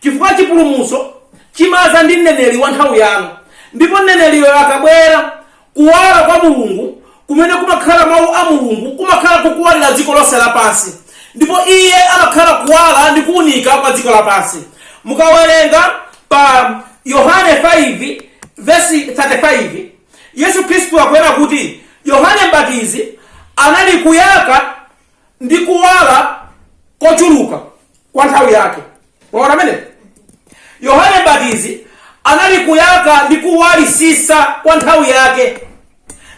chifukwa chipulumutso chimaza ndi mneneri wa nthawi yanu ndipo mneneriyo akabwera kuwala kwa mulungu kumene kumakhala mawu a mulungu kumakhala kukuwalira dziko lonse lapansi ndipo iye amakhala kuwala ndi kuunika kwa dziko lapansi mukawerenga pa yohane 5 vesi 35 yesu khristu akunena kuti yohane mbatizi anali kuyaka ndi kuwala kochuluka kwa nthawi yake waona mmene yohane mbatizi anali kuyaka ndi kuwalisisa kwa nthawi yake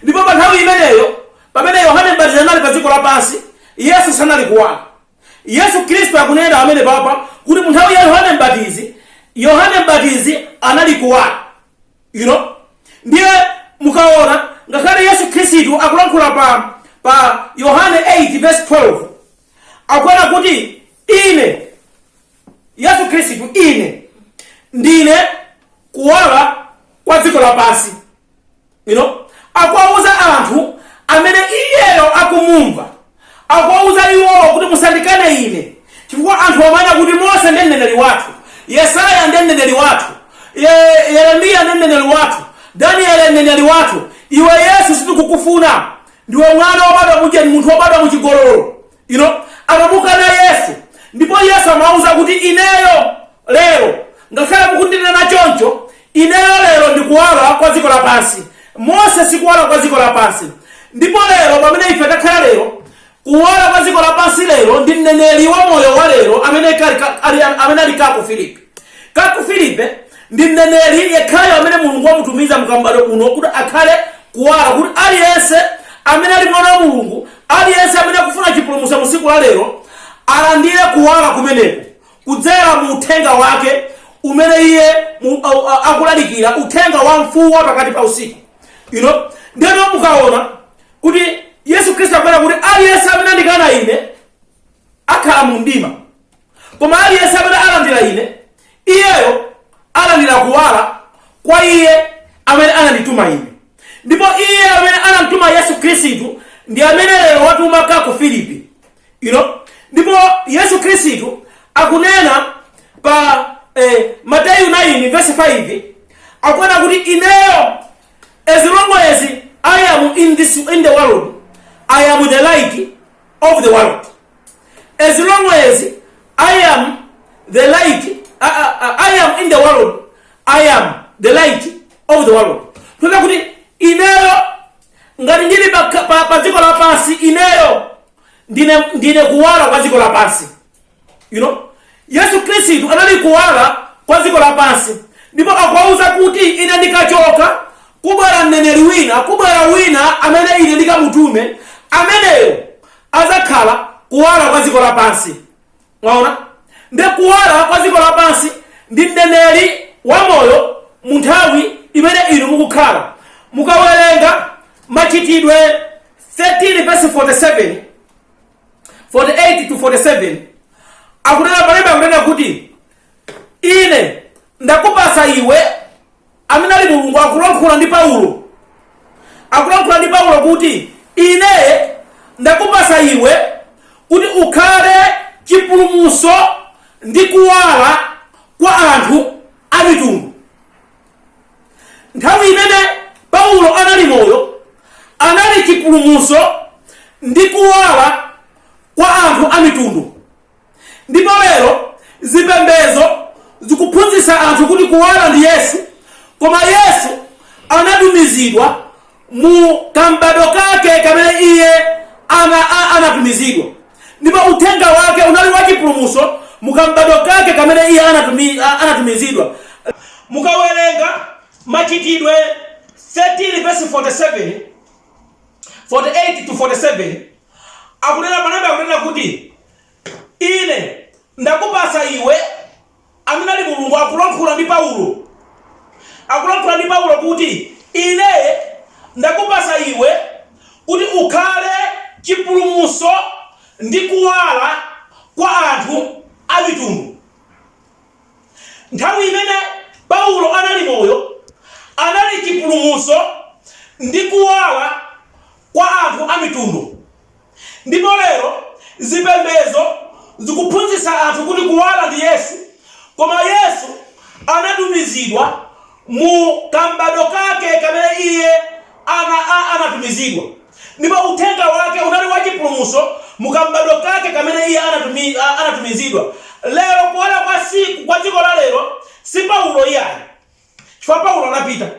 ndipo pa nthawi imeneyo pamene yohane mbatizi anali pa dziko lapansi yesu sanali kuwala yesu khristu akunena pamenepapa kuti mu nthawi ya yohane mbatizi yohane mbatizi anali kuwala you know ndiye mukaona ngakhale yesu khristu akulankhula pa pa yohane 8 verse 12 akunena kuti ine yesu khristu ine ndine kuwala kwa dziko lapansi you know akuwauza anthu amene iyeyo akumumva Akuwauza iwowo kuti, Musandikane ine, chifukwa anthuwa amanena kuti, Mose ndiye mneneri wathu, Yesaya ndiye mneneri wathu, Ye, Yeremiya ndiye mneneri wathu, Daniele mneneri wathu. Iwe Yesu sitikukufuna. Ndiwe mwana wobadwa mucheni, munthu wobadwa mu chigololo. You know? Anamukana Yesu. Ndipo Yesu amawauza kuti, Ineyo lero, ngakhale mukundinena choncho, Ineyo lero ndi Kuwala kwa dziko lapansi. Mose si kuwala kwa dziko lapansi. Ndipo lero, pamene ife takhala lero, Kuwala kwa dziko lapansi lero ndi mneneri wa moyo wa lero amene kali, ka- ali, amene ali Kacou Philippe. Kacou Philippe ndi mneneri yekhayo amene Mulungu wamutumiza mu kam'badwo kano kuti akhale kuwala kuti aliyense amene ali mwana wa Mulungu, aliyense amene akufuna chipulumutso mu tsiku la lero alandire kuwala kumeneko Kudzera mu uthenga wake umene iye mu- au- a- akulalikira uthenga wa mfuwu wa pakati pa usiku you know ndeno mukaona kuti yesu khristu akunena kuti aliyense amene andikana ine akhala mu mdima koma aliyense amene alandira ine iyeyo alandira kuwala kwa iye amene anandituma ine ndipo iye amene anamtuma yesu khristu ndi amene lero watuma Kacou Philippe you know ndipo yesu khristu akunena pa eh, mateyu 9 verse 5 akunena kuti ineyo as long as i am in, this, in the world i am the light of the world as long as i am the light uh, uh, uh, i am in the world i am the light of the world tuna kuti ineyo ngati ndili pa, pa, pa dziko lapansi ineyo ndine, ndine kuwala kwa dziko lapansi you know yesu khristu anali kuwala kwa dziko lapansi ndipo akuwauza kuti ine ndikachoka kubwera mneneri wina kubwera wina amene ine ndikamutume ameneyo azakhala kuwala kwa dziko lapansi mwaona ndi kuwala kwa dziko lapansi ndi mneneri wamoyo mu nthawi imene inu mukukhala mukawerenga machitidwe 13 verse 47 48 to 47 akunena malemba akunena kuti ine ndakupasa iwe amene ali mulungu akulankhula ndi paulo akulankhula ndi paulo kuti ine ndakupasa iwe kuti ukhale chipulumuso ndi kuwala kwa anthu a mitundu nthawi imene paulo anali moyo anali chipulumuso ndi kuwala kwa anthu a mitundu ndipo lero zipembedzo zikuphunzitsa anthu kuti kuwala ndi yesu koma yesu anatumizidwa mu kam'badwo kake kamene iye ana, a- anatumizidwa ndipo uthenga wake unali wachipulumuso mu kam'badwo kake kamene iye anatumi, a- anatumizidwa mukawerenga machitidwe 13 verse 47 48 to 47 akunena malemba akunena kuti Ine ndakupatsa iwe, amene ali Mulungu akulankhula ndi Paulo, akulankhula ndi Paulo kuti ine ndakupatsa iwe kuti ukhale chipulumutso ndi kuwala kwa anthu a mitundu. Nthawi imene Paulo anali moyo, anali chipulumutso ndi kuwala kwa anthu a mitundu. Ndipo lero zipembedzo zikuphunzitsa anthu kuti kuwala ndi Yesu, koma Yesu anatumizidwa mu kam'badwo Kake kamene Iye ana a anatumizidwa. Ndipo Uthenga Wake unali wa chipulumutso mu kam'badwo Kake kamene Iye anatumi, a, anatumizidwa. Lero, kuwala kwa tsiku, kwa dziko la lero, si Paulo iyayi. Chifukwa Paulo anapita.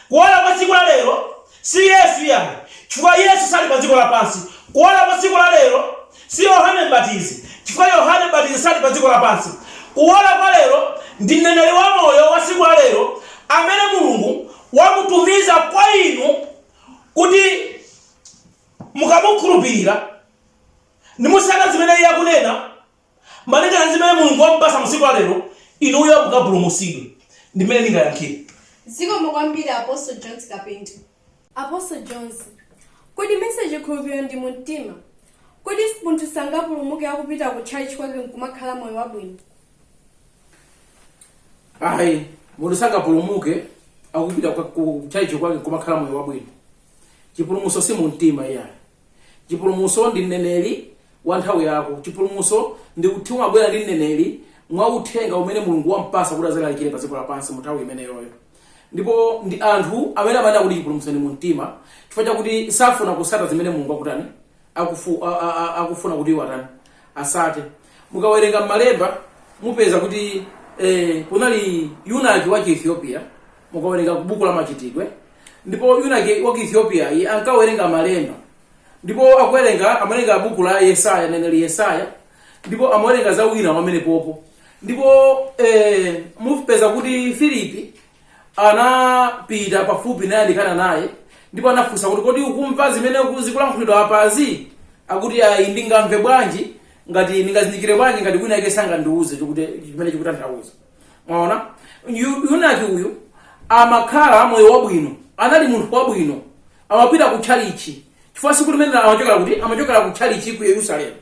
Kuwala kwa tsiku la lero, si Yesu iyayi, chifukwa Yesu sali pa dziko lapansi. Kuwala kwa tsiku la lero, si Yohane M'batizi, chifukwa Yohane M'batizi sali pa dziko lapansi. Kuwala kwa lero ndi mneneri wamoyo wa tsiku la lero amene Mulungu wamutumiza kwa inu kuti mukamukhulupirira nimutsata zimene Iye akunena. Malingana ndi zimene Mulungu wamupasa mu tsiku la lero, inuyo mukapulumusidwe ndi mmene ndingayankhire. Zikomo kwambiri Apostle Jones Kapinto. Apostle Jones, Kodi mesa chikhulupiriro ndi mu mtima? Kodi munthu sangapulumuke akupita ku church kwake nkumakhala moyo wabwino? Ayi, munthu sangapulumuke akupita kwa- ku church kwake nkumakhala moyo wabwino. Chipulumuso si mu mtima iyayi. chipulumutso ndi mneneri wa nthawi yako chipulumutso ndi kuti chimabwera ndi mneneri mwa uthenga umene mulungu wampasa kuti azalalikire pa dziko lapansi mu nthawi imeneyoyo ndipo ndi anthu amene amanena kuti chipulumutso ndi mu mtima chifukwa chakuti safuna kusata zimene mulungu akutani akufu, a, a, a, akufuna kuti iwo atani asate mukawerenga m'malemba mupeza kuti eh, kunali yunaki wa chiethiopia mukawerenga ku buku la machitidwe ndipo yunaki wa ku ethiopia iye ankawerenga malemba ndipo akuwerenga amawerenga buku la yesaya mneneri yesaya ndipo amawerenga za wina wake pamenepopo ndipo eh, mupeza kuti filipi anapita pafupi naye anayandikana naye ndipo anafunsa kuti kodi ukumva zimene uku- zikulankhulidwa apazi akuti ayi ndingamve bwanji ngati ndingazindikire bwanji ngati wina yake sangandiuze chikuti- chimene chikutanthauza mwaona Yu- yunaki uyu amakhala moyo wabwino anali munthu wabwino amapita ku tchalichi chifukwa siku limene amachokera kuti amachokera ku tchalichi ku yerusalemu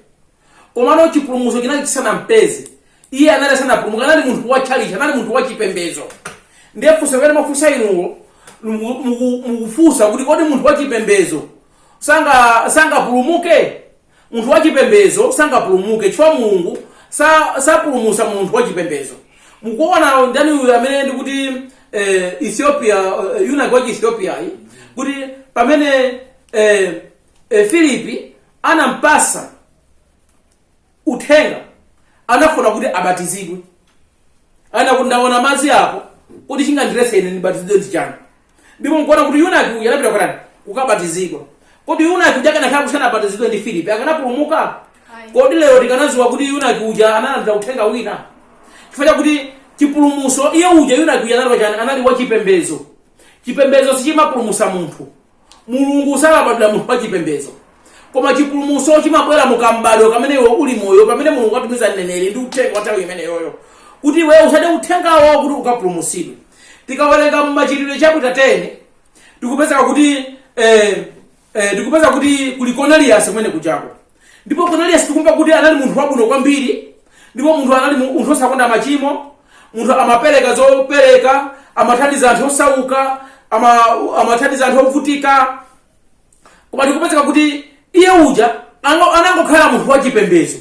komano chipulumutso chinali chisanampeze iye anali asanapulumuke anali munthu wa tchalichi anali munthu wa chipembedzo ndiye funso limene mwafunsa inuwo muku- muku- mukufunsa kuti kodi munthu wa chipembedzo sanga- sangapulumuke Munthu wachipembedzo sangapulumuke chifukwa Mulungu sa, sapulumusa munthu wachipembedzo. Mukuona ndani uyu amene ndikuti eh, Ethiopia eh, yunaki wa Ethiopia-yu kuti pamene eh, eh, Filipi anampasa uthenga anafuna kuti abatizidwe anati ndaona madzi apo kuti chingandiletse ine ndibatizidwe ndi chani ndipo nkuona kuti yunaki uja anapita kutani kukabatizidwa kodi yunaki uja akanakhala kuti sanabatizidwe ndi filipi akanapulumuka kodi lero tikanadziwa kuti yunaki uja analandira uthenga wina chifukwa chakuti chipulumuso iye uja yunaki uja anali wachani anali wachipembezo chipembezo sichimapulumusa munthu mulungu salabadira munthu wachipembezo koma chipulumuso chimabwera mu kam'badwo kamene iwe uli moyo pamene mulungu atumiza mneneri ndi uthenga wa nthawi imeneyoyo kuti iwe usate uthengawo kuti ukapulumusidwe tikawerenga mumachitidwe chapter 10 tikupezeka kuti eh, eh, tikupeza kuti kuli konaliyasi kumene kujako ndipo konaliyasi tikumva kuti anali munthu wabwino kwambiri ndipo munthu anali mu- munthu osakonda machimo munthu amapereka zopereka amathandiza anthu osauka ama- amathandiza anthu ovutika koma tikupezeka kuti iye uja ango- anangokhala munthu wachipembedzo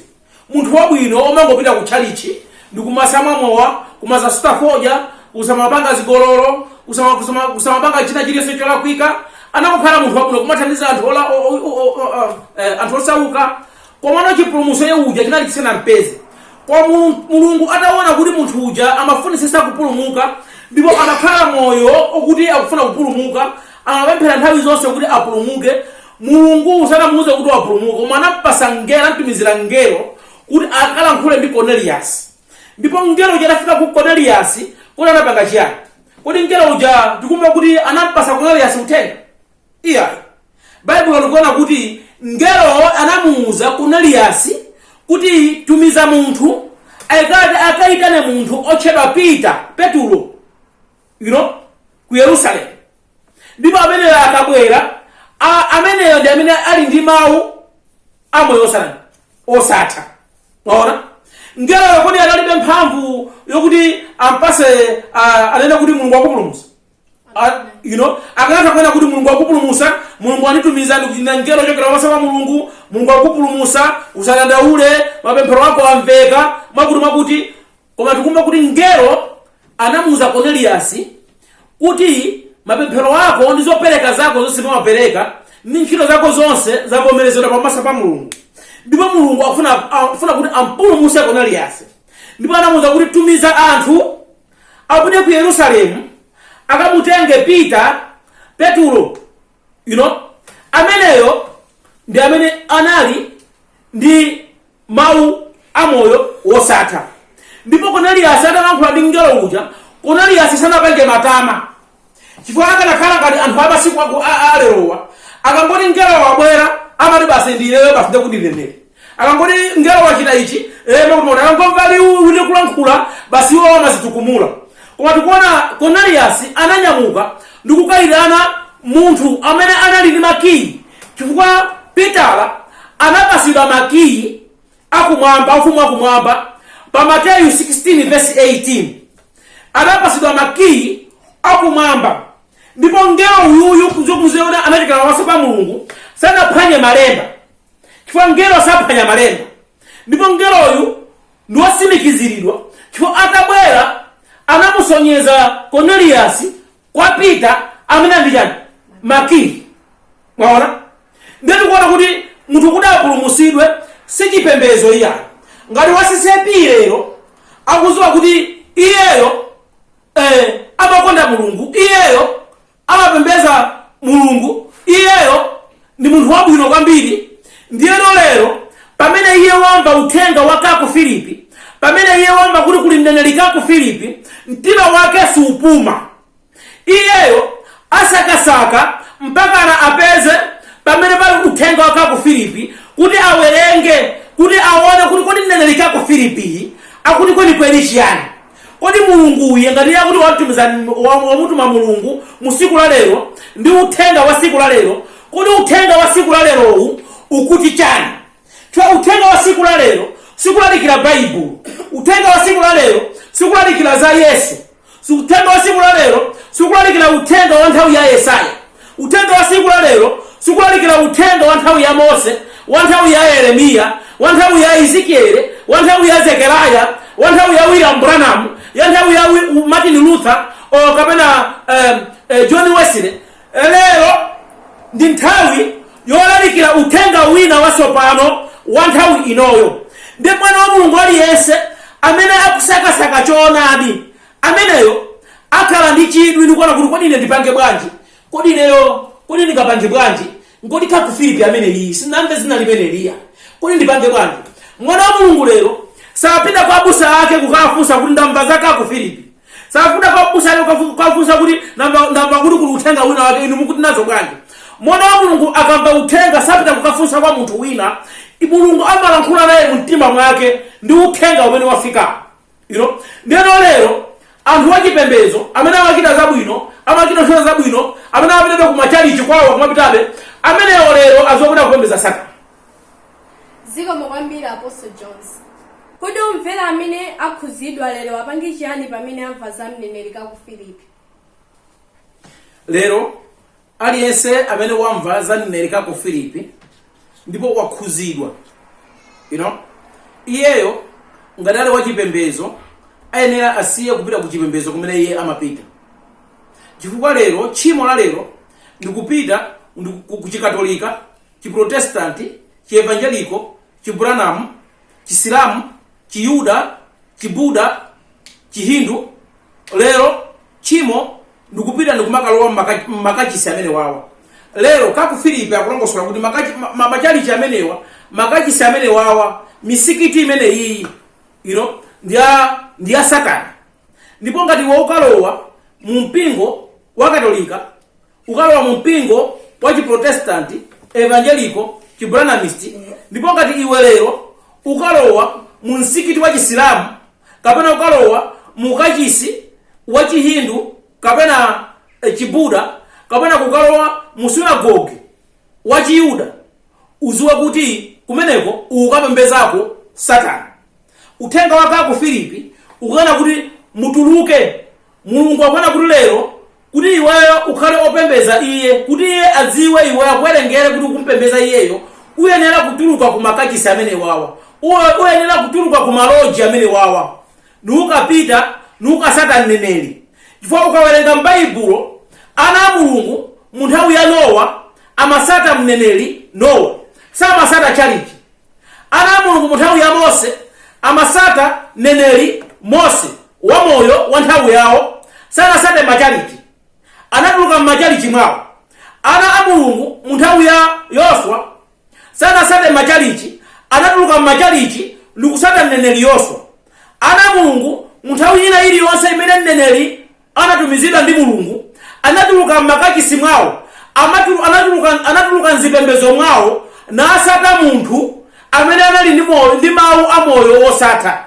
munthu wabwino omangopita ku tchalichi ndi kusamamwa mowa kumasasuta fodya kusamapanga zigololo kusama- kusama- kusamapanga china chilichonse cholakwika anangokhala munthu wabwino kumathandiza anthu ola- o- o- o- o- o- eh, anthu osauka komano chipulumutso iye uja chinali chisanampeze koma Mulu- mulungu ataona kuti munthu uja amafunisisa kupulumuka ndipo amakhala moyo okuti akufuna kupulumuka amapemphera nthawi zonse kuti apulumuke mulungu sanamuuze kuti wapulumuka koma anampasa mngelo anamtumizira mngelo kuti akalankhule ndi cornelius ndipo mngelo uja atafika kwa cornelius kuti anapanga chiyani kodi mngelo uja tikumva kuti anampasa cornelius uthenga Iyayi. Baibulo likunena kuti mngelowo anamuuza Koneliyasi kuti, Tumiza munthu apite akaitane munthu otchedwa Peter, Petulo, you know, ku Yerusalemu. Ndipo ameneyo akabwera, a- ameneyo ndi amene ali ndi mawu a moyo osatha. osatha. Mwaona? Mngeloyo kodi analibe mphamvu yokuti ampase a- anene kuti Mulungu wakupulumutsa? Ah, you know akanatha kunena kuti mulungu wakupulumusa mulungu wanitumiza ndikuchita mngelo kuchokera pamaso pa mulungu mulungu wakupulumusa usadandaule mapemphero ako amveka mwakuti mwakuti koma tikumva kuti mngelo anamuuza koneliyasi kuti mapemphero ako ndi zopereka zako zonse umapereka ndi ntchito zako zonse zavomerezedwa pamaso pa mulungu ndipo mulungu akufuna akufuna kuti ampulumuse koneliyasi ndipo anamuuza kuti tumiza anthu apite ku yerusalemu akamutenge peter petulo you know ameneyo ndi amene anali ndi mawu a moyo wosatha ndipo koneliyasi atalankhula ndi mngelo uja koneliyasi sanapange matama chifukwa akanakhala ngati anthu amasiku aku- a- a- alerowa akangoti mngelo wabwera amati basi ndiineyo basi ndekuti ndi mneneri akangoti mngelo wachita ichi emakuti akangomva liwu likulankhula basi iwo amazitukumula koma tikuona koneliyasi ananyamuka ndikukayitana munthu amene anali ndi makiyi chifukwa pitala anapasidwa makiyi akumwamba, a Ufumu wa Kumwamba, pa Mateyu 16 vesi 18 adapatsidwa makiyi akumwamba, ndipo mngelo uyuyu kuzokuziona anachokera pamaso pa Mulungu, sanaphwanye malemba chifukwa mngelo saphwanya malemba, ndipo mngeloyu ndi wotsimikiziridwa chifukwa atabwera anamusonyeza Korneliyasi kwa peter amene ali ndi chani makiyi mwaona ndiye tikuona kuti munthu kuti apulumusidwe si chipembedzo iyayo ngati wa ccap iyeyo akuziwa kuti iyeyo eh, amakonda mulungu iyeyo amapembeza mulungu iyeyo Ndi munthu wabwino kwambiri. Ndiyeno lero, pamene iye wamva uthenga wa Kacou Philippe, pamene iye wamva kuti kuli mneneri Kacou Philippe, mtima wake supuma. Iyeyo asakasaka mpakana apeze pamene pali uthenga wa Kacou Philippe, kuti awerenge, kuti aone kuti kodi mneneri Kacou Philippeyi akuti kwenikweni chiyani. Kodi Mulungu uyu ngati iye akuti watumiza wa- wamutuma Mulungu mu siku la lero ndi uthenga wa siku la lero, kodi uthenga wa siku la lerowu ukuti chani? Chifukwa uthenga wa siku la lero sikulalikira Baibulo. Uthenga wa siku la lero sikulalikira za Yesu. Uthenga wa siku la lero sikulalikira uthenga wa nthawi ya Yesaya. Uthenga wa tsiku la lero sikulalikira uthenga wa nthawi ya Mose, wa nthawi ya Yeremiya, wa nthawi ya Ezekiele, wa nthawi ya Zekeraya, wa nthawi ya William Branham, ya nthawi ya Wi- U- Martin Luther o kapena eh, eh, John Wesley. Eh, Lero ndi nthawi yolalikira uthenga wina watsopano wa nthawi inoyo. Ndi mwana wa Mulungu aliyense amene akusakasaka choonadi Ameneyo akhala ndi chidwi ndi kuona kuti kodi ine ndipange bwanji? Kodi ineyo, kodi ndingapange bwanji? Kodi Kacou Philippe ameneyi sinamve dzina limeneliya? Kodi ndipange bwanji? Mwana wa Mulungu lero sapita kwa abusa ake kukafunsa kuti ndamva za Kacou Philippe. Sapita kwa abusa ake kukafu- kukafunsa kuti ndamva ndamva kuti kuli uthenga wina wake inu mukuti nazo bwanji? Mwana wa Mulungu akamva uthenga sapita kukafunsa kwa munthu wina. Mulungu amalankhula naye mu mtima mwake ndi uthenga umene wafikapo. you know ndeno lero anthu wachipembedzo amene amachita zabwino amachita ntchito zabwino amene amapitabe kumachalichi kwawo kumapitabe amenewo lero azopita kupembedza satana zikomo kwambiri apostle jones kodi omvera amene akhudzidwa lero apange chiyani pamene amva za mneneri Kacou Philippe lero Aliyense amene wamva za mneneri Kacou Philippe ndipo wakhuzidwa you know, iyeyo ngati ali wachipembezo ayenera asiye kupita ku chipembezo kumene iye amapita chifukwa lero tchimo la lero ndikupita kuchikatolika chiprotestanti chievanjeliko chibranamu chisilamu Chiyuda, Chibuda, Chihindu, lero tchimo ndikupita ndikumakalowa mmaka- mmakachisi amene wawa lero Kacou Philippe akulongosola kuti makachi- ma- ma- machalichi amenewa makachisi amene wawa misikiti imene iyi you know, ndi ya ndi ya satana ndipo ngati iwe ukalowa mu mpingo wa katolika ukalowa mu mpingo wa chiprotestanti evangeliko chibranamisti ndipo ngati iwe lero ukalowa mu msikiti wa chisilamu kapena ukalowa mu kachisi wa chihindu kapena e, chibuda kapena kukalowa mu sunagoge wa chiyuda uziwe kuti kumeneko ukapembezako satana uthenga wa Kacou Philippe ukunena kuti mutuluke mulungu akunena kuti lero kuti iweyo ukhale opembeza iye, kuti iye adziwe iwe akuwerengere kuti ukumpembeza iyeyo, uyenera kutuluka ku makachisi amene wawa. Iwe uyenera kutuluka ku maloji amene wawa. Nukapita, nukasata mneneri. Chifukwa ukawerenga m'Baibulo, ana a Mulungu mu nthawi ya Nowa amasata mneneri Nowa. Samasata chalichi. Ana a Mulungu mu nthawi ya Mose amasata mneneri Mose wa moyo wa nthawi yawo, sanasate machalichi. Anatuluka m'machalichi mwawo. Ana a Mulungu mu nthawi ya Yoswa sanasate machalichi, anatuluka m'machalichi ndikusata mneneri Yoswa. Ana a Mulungu mu nthawi ina iliyonse imene mneneri anatumizidwa ndi mulungu anatuluka m'makachisi mwawo amatulu- anatuluka anatuluka mzipembezo mwawo nasata munthu amene anali ndi mawu a moyo wosatha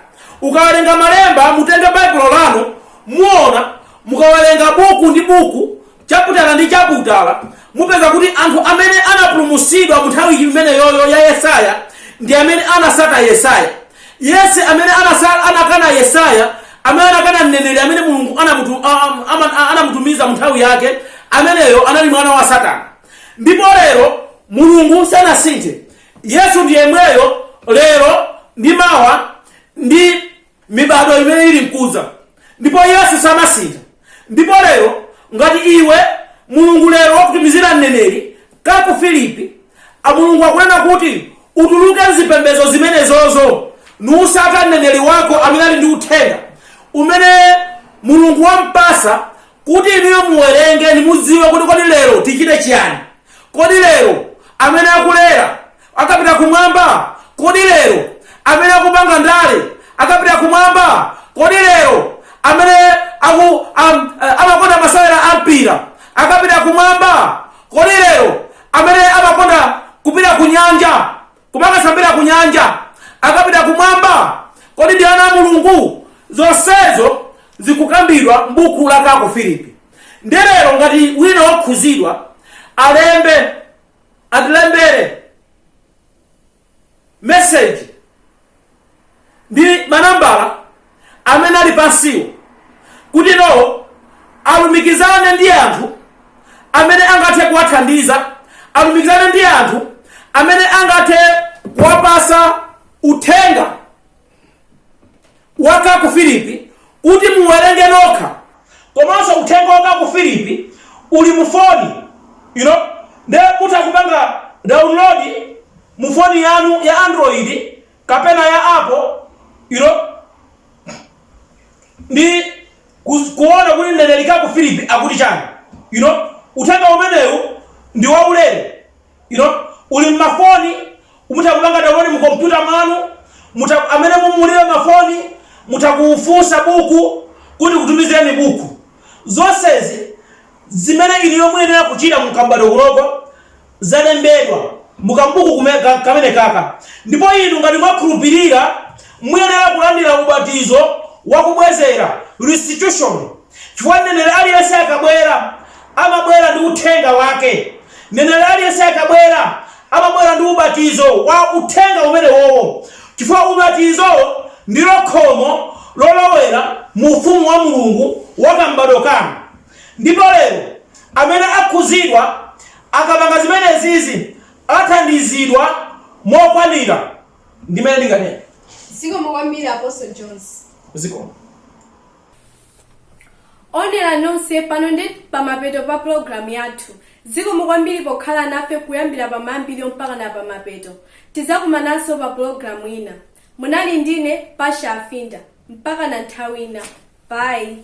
ukawerenga malemba mutenge baibulo lanu muona mukawerenga buku ndi buku chaputala ndi chaputala mupeza kuti anthu amene anapulumusidwa mu nthawi imeneyoyo ya yesaya ndi amene anasata yesaya Yense amene anasala, anakana Yesaya, amene anakana mneneri amene Mulungu anamutumiza mu nthawi yake, ameneyo anali mwana wa Satana. Ndipo lero Mulungu sanasinthe. Yesu ndi yemweyo lero ndi mawa ndi mibado imene ili mkuza ndipo Yesu samasintha. Ndipo lero, ngati iwe, Mulungu lero wakutumizira mneneri Kacou Philippe, a Mulungu akunena kuti utuluke mzipembezo zimenezozo, nusata mneneri wako amene ali ndi uthenga, umene Mulungu wampasa kuti inuyo muwerenge nimudziwe kuti kodi lero tichite chiyani. Kodi lero, amene akulera, akapita kumwamba? Kodi lero amene akupanga ndale akapita kumwamba? Kodi lero amene aku am, eh, amakonda masewera a mpira akapita kumwamba? Kodi lero amene amakonda kupita ku nyanja kumakasambira ku nyanja akapita kumwamba? Kodi ndi ana a Mulungu? Zonsezo zikukambidwa m'buku la Kacou Philippe. Nde lero ngati wina wokhuzidwa alembe atilembere meseji ndi manambala amene ali pansiwo kuti you know alumikizane ndi anthu amene angathe kuwathandiza alumikizane ndi anthu amene angathe kuwapasa uthenga wa Kacou Philippe kuti muwerenge nokha komanso uthenga wa Kacou Philippe uli mu foni you know nde mutha kupanga download mu foni yanu ya android kapena ya apple you know ndi kus- kuona kuti mneneri Kacou Philippe akuti chani you know uthenga umenewu ndi waulere you know uli mmafoni mutha kupanga download mu kompyuta mwanu mutha amene mulibe mafoni mutha kufunsa buku kuti tikutumizireni buku zonsezi zimene inuyo muyenera kuchita mu kam'badwo kunoko zalembedwa mukambuku kume- ka- kamenekaka ndipo inu ngati mwakhulupirira muyenera kulandira ubatizo wakubwezera restitution Chifukwa mneneri aliyense akabwera, amabwera ndi uthenga wake. Mneneri aliyense akabwera, amabwera ndi ubatizo wa Uthenga umenewowo, chifukwa ubatizo ndilo khomo lolowera mu Ufumu wa Mulungu wa kam'badwo kano. Ndipo, lero, amene akhuzidwa, akapanga zimenezizi, athandizidwa mokwanira, ndi mmene ndinganene. Zikomo kwambiri, Apostle Jones. Zikomo. owonera nonse pano ndi pamapeto pa pulogalamu yathu zikomo kwambiri pokhala nafe kuyambira pamayambiriro mpaka na pamapeto tidzakumananso pa pulogalamu ina munali ndine pasha afinda mpaka na nthawi ina bayi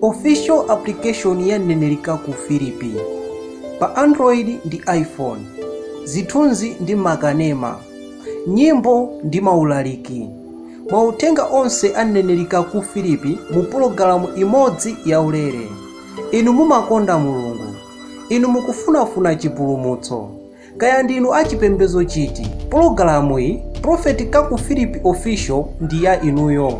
official application ya mneneri kaku filipi pa android ndi iphone zithunzi ndi makanema nyimbo ndi maulaliki mauthenga onse a mneneri kaku filipi mu pologalamu imodzi yaulere inu mumakonda mulungu inu mukufunafuna chipulumutso kaya ndinu achipembedzo chiti pologalamu iyi prophet kaku filipi official ndi ya inuyo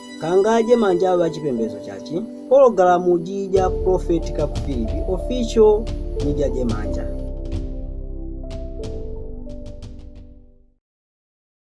Kangadye manja aba chipembezo chachi pologalamu jija prophet kakuphiri official media dye manja.